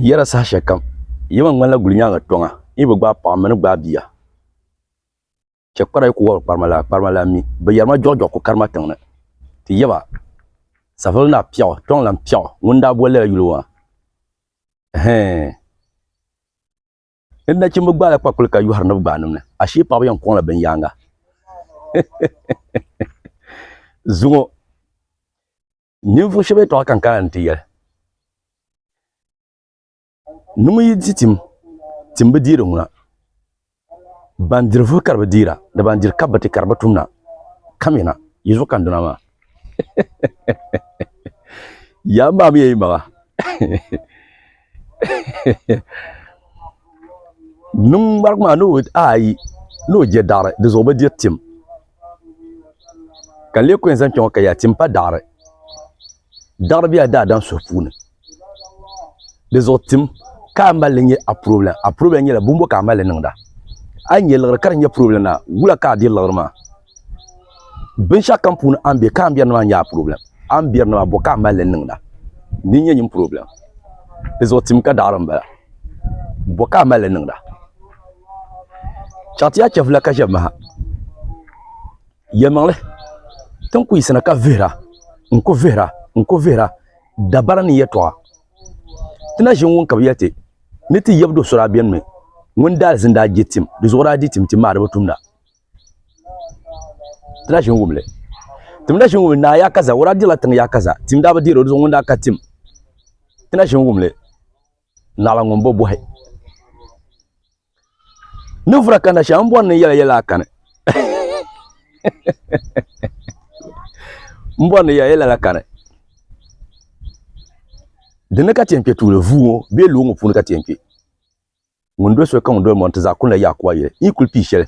yɛra saha shɛli kam yɛma ŋmanila guli nyaaŋa tɔŋa yi bi gbaai paɣa mini gbaai bia chɛ kpara yi ku wɔbiri kparima laa kparima laa mi bi yɛrima jɔɣu jɔɣu ku karima tiŋ ni ti yɛba savelugu naa piɛɣu kpiɔŋ lan piɛɣu ŋuni n-daa boli lala yuli ŋɔ maa ɛhɛɛn ni nachimbi gbaala kpakpuli ka yɔhari ni bi gbaai niŋ ni ashee paɣaba yɛn kɔŋla bin yaanga zuŋɔ ninvuɣu shɛba yɛtɔɣa ka n kana ni ti yɛli ni ŋun yi di tim tim bi deeri ŋuna ban diri vuhi ka di bi deera ni ban diri kabiti ka di bi tumda kamina yi zuɣu ka n duna maa Yaa maa mi yi maŋa niŋ ŋmari maa ni ayi ni o je daɣiri di zuɣu bi diri tim ka n lee kuli yɛn zaŋ kpɛŋɔ ka yaa tim pa daɣiri daɣiri bela daadam suhu puuni. di zuɣu tim ka a mali nyɛ a problem a problem nyɛla bumbo ka a mali niŋda a nyɛ liɣiri ka di nyɛ problem na wula ka a diri liɣiri maa binshaɣu kam puuni a ni bɛ ka a ni biɛri ni maa nyɛ a problem a ni biɛri ni maa bo ka a mali niŋda din nyɛ nyin problem di zuɣu tim ka daɣari n bala bo ka a mali niŋda chaɣati a chɛfula ka ʒɛbi maha Yɛlimaŋli, ti ni ku yiɣisina ka vihira, n-ku vihira, n-ku vihira dabara ni yɛtɔɣa. Ti na ʒini ŋun ka bi yɛli ti ni ti yab do so daa beni mi ŋun daalizini daa je tim, di zuɣu daa di tim ti maariba tumda. Ti na ʒini wum li. Tim na ʒini wum li, Naa Yakaza, o daa dirila tiŋ Yakaza, tim daa bi deeri o, di zuɣu ŋun daa ka tim. Ti na ʒini wum li, Naɣila ŋun bo bɔhi. ni vura ka nasha n bɔri ni yɛla yɛla a kani n bɔri ni yɛla yɛla la kani dini ka tiɛn kpɛ tuuli vuu ŋɔ bee loo ŋɔ puuni ka tiɛn kpɛ ŋun doli soli ka ŋun doli mɔri ti zaa kuli la Yakuwa yɛli yi kuli pii shɛli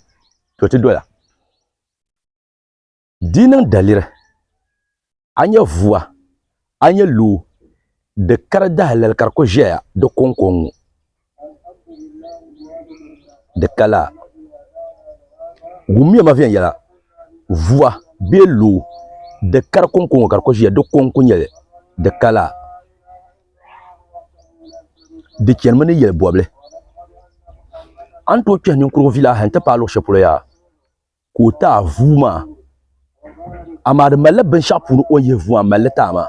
to ti dola Di niŋ daliri, a nya vua, a nya loo, di kari dahalali ka di ku ʒɛya di kɔŋkɔŋ ŋɔ, di ka laa. Wummiya ma viɛnyɛla, vua bee loo, di kari kɔŋkɔŋ ŋɔ ka di ku ʒiya di kɔŋ ku nyɛli, di ka laa. Di chanimi ni yɛli bɔbili. A ni tooi kpɛhi ninkurigu vilahi n-ti paai luɣ shɛli polo yaa? ka o taai vuu maa amaa di malila binshaɣu puuni o ni yihi vuu maa n malili taai maa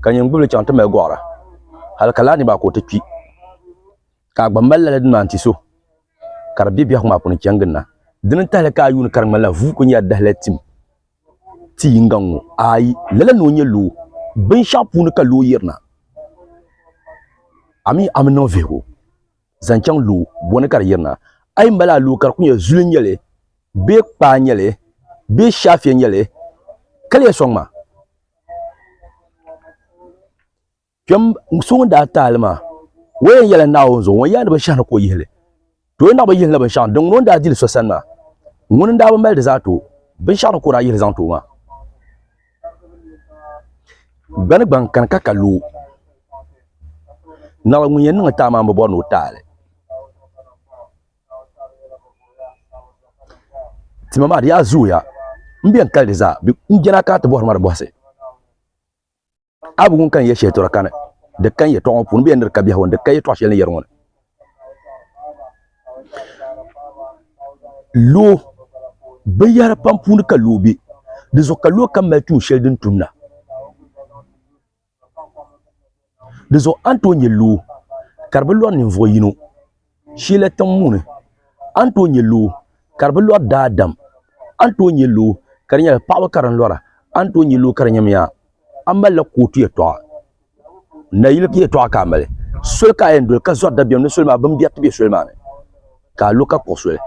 ka nyini gbubili chaŋ ti mali goɣara hali ka laa ni maa ka o ti kpi ka a gba mali lala dini maa n ti so ka di bɛ biɛhagu maa puuni chɛŋ ginda dini n tahali ka a yuundi ka di ŋmanila vuu ku nyɛla dahalali tim ti yinga n ŋo aai lala ni o nyɛ loo binshaɣu puuni ka loo yirina a mii a mi niŋ vihigu zaŋ chaŋ loo bɔni ka di yirina a yi mali a loo ka di ku nyɛ zuli n nyɛli bee kpaa n nyɛli bee shaafiya n nyɛli ka di yɛn sɔŋ ma kpɛm so ŋun daa taali maa o yɛn yɛla naawuni zuɣu ŋun yaa ni binshaɣu ni ka o yihili to o naɣaba yihila binshaɣu din ŋuni o ni daa dili so sani maa ŋuni n daa bi mali di zaa to binshaɣu ni ka o daa yihili zaŋ ti o maa Gbani gbaŋ kani ka ka loo naawuni ŋun yɛn niŋ taali maa n bi bori ni o taali tima maa di yaa zooya n bɛn kali di zaa n jɛna kana ti bori ma di bɔhisi a bi wum ka ni yɛ shɛli tɔra kani di ka n yɛtɔɣa ŋɔ puuni n bɛn diri ka biɛhigu n di ka yɛtɔɣa shɛli ni yɛri ŋɔ ni loo binyɛra pam puuni ka loo bɛ dizuɣu ka loo kam mali tuun shɛli din tumda dizuɣu a ni tooi nyɛ loo ka di bi lori ninvuɣu yino shɛli tiŋ ŋo ni a ni tooi nyɛ loo ka di bi lori daadam a ni tooi nyɛ loo ka di nyɛla paɣaba ka di lora a ni tooi nyɛ loo ka di nyɛmiya a ni malila ka o tuya tɔɣa nayili yɛtɔɣa ka a mali soli ka a yɛn doli ka zɔri dabiɛm ni soli maa bin biɛri ti bɛ soli maa ni ka a lo ka kpuɣi soli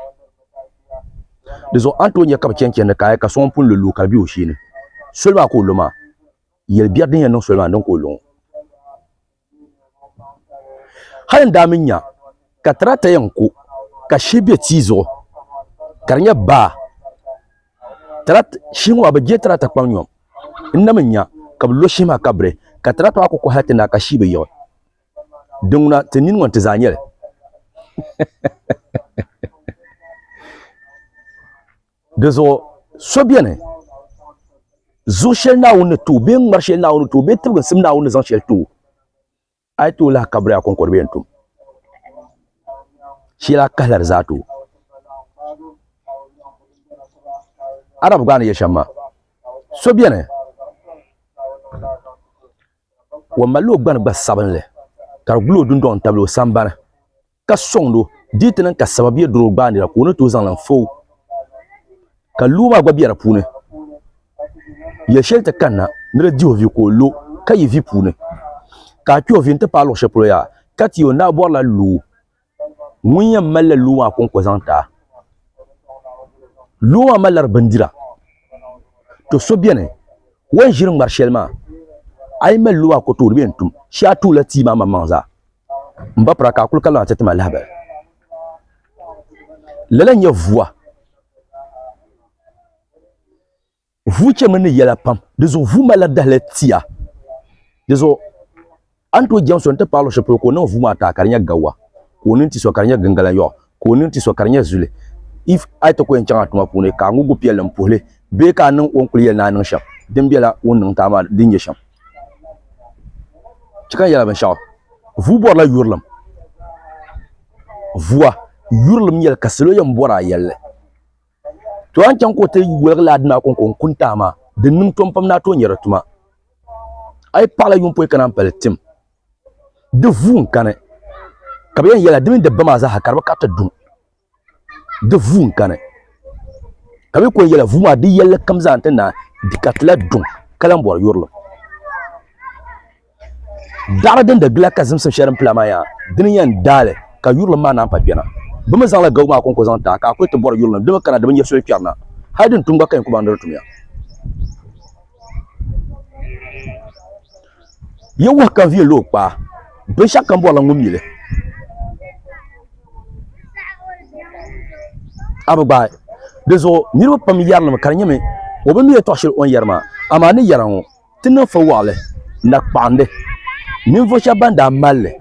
di zuɣu a ni tooi nyɛ ka bi chɛni chɛndi kaaya ka so ŋun pun lo loo ka di bɛ o shee ni soli maa ka o lo maa yɛli biɛri din yɛn niŋ soli maa ni din ka o lo ŋɔ hali n daa mi nya ka tirata yɛn ku ka shee bɛ tia zuɣu ka di nyɛ baa shee ŋɔ maa bi gbirila tirata kpaŋ nyɔ n na mi nya ka bi lo shee maa ka biri ka tirata maa ku kɔhi hali ti naai ka shii bi yiɣi din ŋuna ti nini ŋɔ n ti zaa nyɛli di zuɣu so bɛni zuɣu shɛli Naawuni ni too bee ŋmari shɛli Naawuni ni too bee tibiginsim Naawuni ni zaŋ shɛli too a yi tooi lahi kabiri a koŋkɔdiba yɛn tum shee la kahila di zaa tooi arab gba ni yɛ shɛm maa so biɛni o malila o gbani gba sabinli ka di guli o dundoŋ tabili o sambani ka sɔŋdi o dii ti niŋ ka sababiya doro gbaanira ka o ni tooi zaŋli n-fa o, ka loo maa gba be di puuni. Yɛl shɛli ti kanna ni di di o vi ka o lo ka yi vi puuni, ka a kpe o vi nti paai luɣ shɛli polo yaa, ka ti o ni daa bɔrila loo ŋun yɛn malila loo maa kɔŋko zaŋ ti a. Loo maa malila di bindira. Tɔ! So beni o yɛn ʒiri ŋmar shɛli maa, a yi mali loo maa ka o tooi di, bɛ yɛn tum shee a tuula tia maa maŋmaŋ zaa. n ba pira ka a kuli ka lahi ti tima lahabali lala nyɛ vuwa vuu chɛmi ni yɛla pam di zuɣu vuu malila dahali tia di zuɣu a ni tooi jɛŋ so n ti paɣa luɣu shɛli polo ka o niŋ vuu maa taa ka di nyɛ gawa ka o niŋ ti so ka di nyɛ gingala yɔɣu ka o nini ti so ka di nyɛ zuli if a yi ti ko yɛn chaŋ a tuma puuni ka a ŋubi piɛlli n puhili bee ka a niŋ o ni kuli yɛli ni a niŋ shɛm din biɛla o ni niŋ ti a maa din nyɛ shɛm chɛ ka n yɛla binshaɣu vuu bɔrila yurilim vua yurilim nyɛli ka salo yɛn bɔri a yɛlli to a ni chaŋ ka o ti woligi laa dina kɔŋko n kuni ti a maa din niŋ tom pam ni a tooi nyɛri tuma a yi paɣila yuŋpɔi kana n pali tim di vuun kani ka bi yɛn yɛla di mini di ba maa zaaha ka di bi kariti duŋ di vuun kani ka bi ko yɛla vuu maa di yɛlli kam zaa n ti naai di karitila duŋ ka lahi bɔri yurili daɣari din da gila ka zimsim shɛli din pila maa yaa dini yɛn daali ka yurili maa naan pa kpɛna bi mi zaŋla gabu maa konko zaŋ taa ka a kuli ti bɔri yurili ni di mi kana di bi nyɛ soli kpɛri na hali din tum gba ka yɛn ku baŋ ni di tum ya Ye wahi ka viɛl o kpaa, binshɛɣu kam bɔrila ŋun mi li. A bi gbaai. Di zuɣu niriba pam yɛrinimi ka di nyɛmi o bi mi yɛtɔɣ shɛli o ni yɛri maa. Amaa ni yɛra ŋɔ, ti niŋ fo waɣili na kpaɣindi ninvuɣ shɛb bɛn daa mal li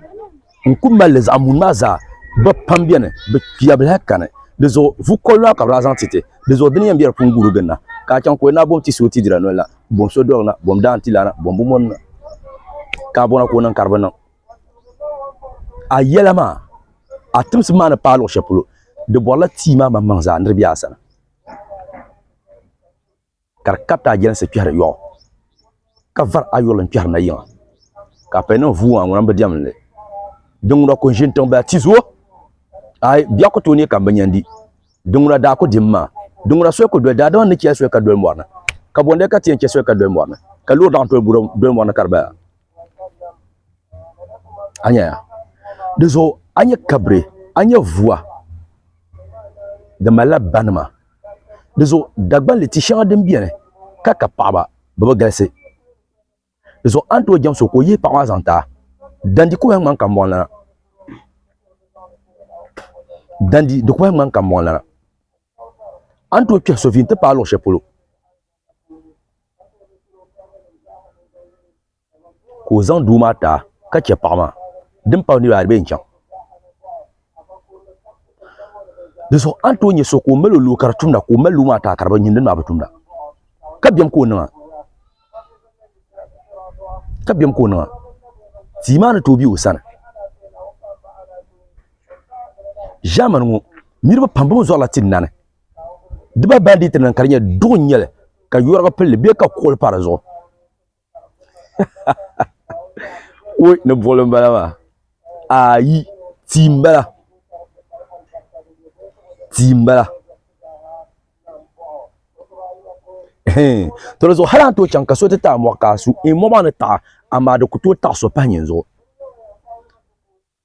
n ku mali li zaɣ mun maa zaa ba pam bɛ ni bi kpiya bi lahi kani di zuɣu vu kɔli maa ka bi lahi zaŋ ti ti di zuɣu dini yɛn bɛ di puuni guuri ginda ka a chaŋ ka o naa bom ti si o ti dira noli na bom so dɔri na bom daa n ti laana bom bi mɔni na ka a bɔna ka o niŋ ka di bi niŋ a yɛla maa a timsi maa ni paai luɣu shɛli polo di bɔrila tia maa maŋmaŋ zaa ni di bɛ a sani ka di kabiti ajansi kpɛhiri yɔɣu ka vari ayɔli n-kpɛhiri na yiŋa ka a paya niŋ vuui maa ŋuna m-bi diɛm li din ŋuna ku n-ʒini tiŋ bala tizuo aai biɛɣu ku tooi neei ka m bi nya n-di din ŋuna daa ku dim maa din ŋuna soli ku doli daadama ni chɛ soli ka doli mɔri ni ka bɔndali ka ti yɛn chɛ soli ka doli mɔri ni ka loori laɣim tooi doli mɔri ni ka di bala a nya ya di zuɣu a nya kabiri a nya vuua di malila banima di zuɣu dagbanli ti shɛŋa din biɛni ka ka paɣaba bi bi galisi di zuɣu a ni tooi jɛm so ka o yihi paɣa maa zaŋ taa dandi ku lahi ŋmani ka mɔɣu lana dandi di ku lahi ŋmani ka mɔɣu lana a ni tooi kpɛhi so vihi n ti paai luɣu shɛli polo ka o zaŋ doo maa taai ka chɛ paɣa maa din pahi niraba ayi di bee n chɛŋ dinzuɣu a ni tooi nyɛ so ka o mali o nuu ka di tumda ka o mali nuu maa taai ka ŋun dinni maa bi tumda ka biɛni ka o niŋa ka biɛni ka o niŋa tia maa ni tooi bɛ o sani ʒaamani ŋo niraba pam bi mii zorila ti nani dibaa bandit nim ka di nyɛli duɣu n nyɛli ka yoriga pilli bee ka kuɣuli pa dizuɣu Wuy ni boli n bala maa ayi tii n bala tii n bala to di zuɣu hali an tooi chaŋ ka so ti taɣi amoɣu ka a su amoɣu maa ni taɣi amaa di ku tooi taɣi so pahi nyin zuɣu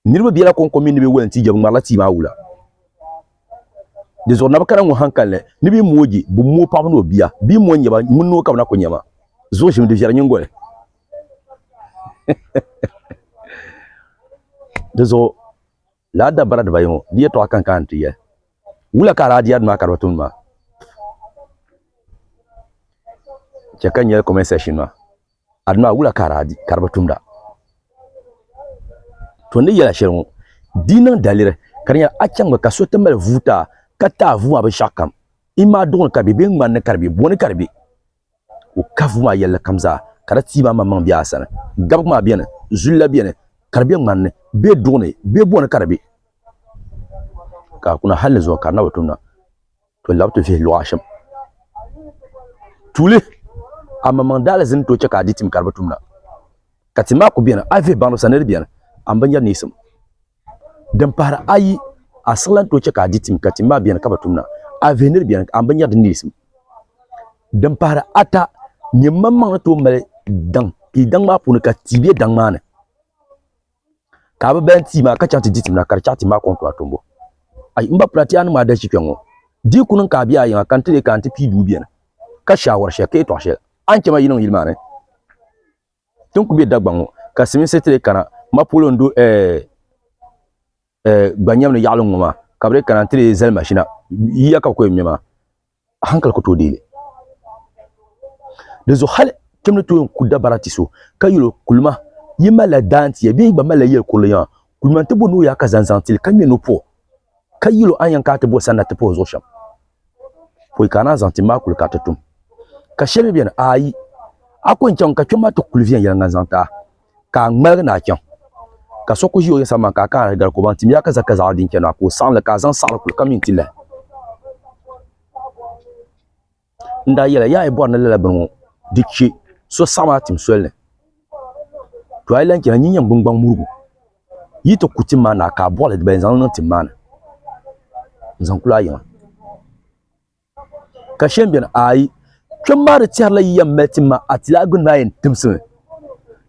Niriba bela kɔŋko mini ni bɛ wali n-ti jɛbuŋmarila tia maa wula. Di zuɣu Nabikara ŋɔ hankalinli ni bɛ moogi bɛ moo paɣiba ni o bia bee mo n-nyɛ ba, ŋun ni o ka bɛ na ku nya ma. Zuɣu ʒimi di viɛri nyiŋgoli. Di zuɣu lala dabara dibayi ŋɔ di yɛtɔɣa ka n kana nti yɛli. Wula ka a daa di Aduna Akariba tumdi maa? Chɛ ka n yɛli kɔmɛnt sɛkshin maa. Aduna wula ka di bi tumda? To ni yɛla shɛli ŋɔ, di yi niŋ daliri ka di nyɛla achaŋmi ka so ti mali vuuta ka taai vuu maa binshɛɣukam, imaa duɣu ni ka di be bee ŋmani ni ka di be, bo ni ka di be, ka o kahi vuu maa yɛlli kam zaa ka di tii maa maŋmaŋ be a sani, gabigu maa beni, zuliya beni, ka di be ŋmani ni bee duɣu ni bee bo ni ka di be, ka kuna hal ni zuɣu ka di na bi tumda. to lab to vihi luɣa shɛm tuuli a maŋmaŋ daali zini to chɛ ka a di tim ka di bi tumda ka tim maa ku bɛni a vihi baŋdi sani di bɛni a ni binyɛri neesim din pahari ayi a siɣilan to chɛ ka a di tim ka tim maa bɛni ka bi tumda a vihi ni di bɛni a ni binyɛri din neesim din pahari ata nyɛ maŋmaŋ ni tooi mali daŋ ka i daŋ maa puuni ka tia bɛ daŋ maa ni ka bi bɛn tii maa ka chaŋ ti di tim na ka di chaɣ tim maa kɔŋ tɔha tombo. Ayi, m ba pula ti a niŋm a dalichi kpe ŋɔ. Di ku niŋ ka a be a yiŋa ka n ti leei ka a ni ti pii duu beni ka shaawari shɛli ka yɛtɔɣ shɛli a ni chɛ ma yi niŋ yili maa ni ti ni ku be Dagbaŋ ŋɔ ka Silimiinsi ti leei kana ma polo n-do ɛɛh. eh, gba nyɛm ni yaɣili ŋɔ maa ka bɛ kana ti zali mashina yiya ka bɛ kɔyɛ ŋmɛ a hankali ku tooi deeli di zuɣu hali kpɛm ni tooi ku dabara ti so ka yɛlo kulima yi malila daantiya bee yi gba malila yɛli kurili yaŋa kulima ti bo ni o yaa ka zaŋzaŋ tili ka ŋmɛ ni o puɣu ka yɛlo a yɛn ka ti bo sanna ti puhi zuɣu shɛm pɔi ka naan zaŋ ti maa kuli ka ti tum ka shɛli bɛ ni ayi a ko n chaŋ ka kpɛm maa ti kuli viɛn yɛlŋa zaŋ taa ka a ŋmaligi ni a chaŋ ka so ku ʒi o yɛsa man ka a ka a gali ko baŋ timiya ka za ka zaɣa din chɛna ka o saɣinli ka a zaŋ saɣiri kuli ka min ti lahi n daa yɛla yaa yi bɔri ni lala bini ŋɔ di che so saɣim a tim soli ni to a yi lan chɛna nyin yɛn gbingbaŋ murigu yi ti ku tim maa ni a ka a bɔɣili diba yɛn zaŋ li niŋ tim maa ni n-zaŋ kul a yiŋa. Ka shɛm beni, aai, kpɛm maa di tɛhirila yi yɛn mali tim maa a ti lahi gbini maa yɛn timsi mi,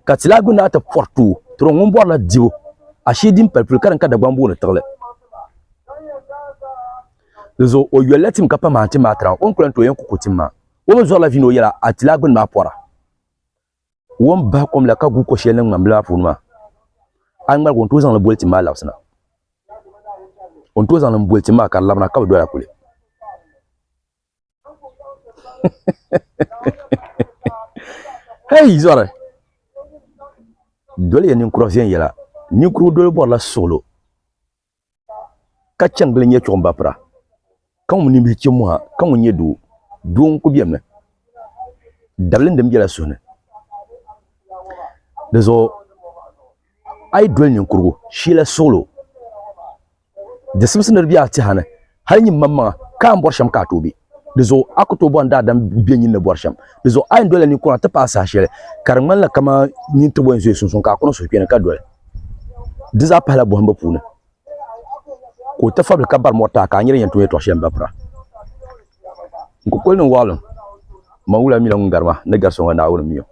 ka ti lahi gbini maa ti pɔri tooi, tɔro ŋun bɔrila dibu ashee din pali polo ka din ka Dagbaŋ booni tiɣili. Dinzuɣu o yoli la tim ka pam a tim maa tira o ni ku lan tooi yɛn ku ku tim maa. O mi zɔrila vii ni o yɛla a ti lahi gbini maa pɔra. wɔn bahi kom la ka gu ko shɛli niŋ ŋmanbila maa puuni maa a ni ŋmaligi o ni tooi zaŋli boli tim maa labisina o ni tooi zaŋli boli tim maa ka di labina ka bi dola kuli hei zɔri doli ya ninkura viɛnyɛla ninkurigu doli bɔrila suɣulo ka chɛni gili nyɛ chuɣumba pira, ka ŋun ninbihi chɛ mɔha, ka ŋun nyɛ doo, doo n-ku bɛ mi, dabili din bela suhu ni. Di zuɣu a yi doli ninkurugu, shila suɣilo, di simsi ni di be a tiha ni. Hal nyin maŋmaŋa ka a ni bɔri shɛm ka a tooi be. Di zuɣu a ku tooi bɔhim daadam bɛ nyin ni bɔri shɛm. Di zuɣu a yɛn dolila ninkura nti paai saha shɛli ka di ŋmanila kaman nyin tibo yɛn zooi sunsuuni ka a ku niŋ suhukpeeni ka doli. Di zaa pahila bɔhimbu puuni ka o ti fabili ka bari mɔri taai ka a nya din yɛn tooi nyɛ tɔɣ shɛli m-bapira. N ku kuli niŋ waɣilim, Maŋ wula mi la ŋun gari ma ni gari so ŋɔ Naawuni mi o.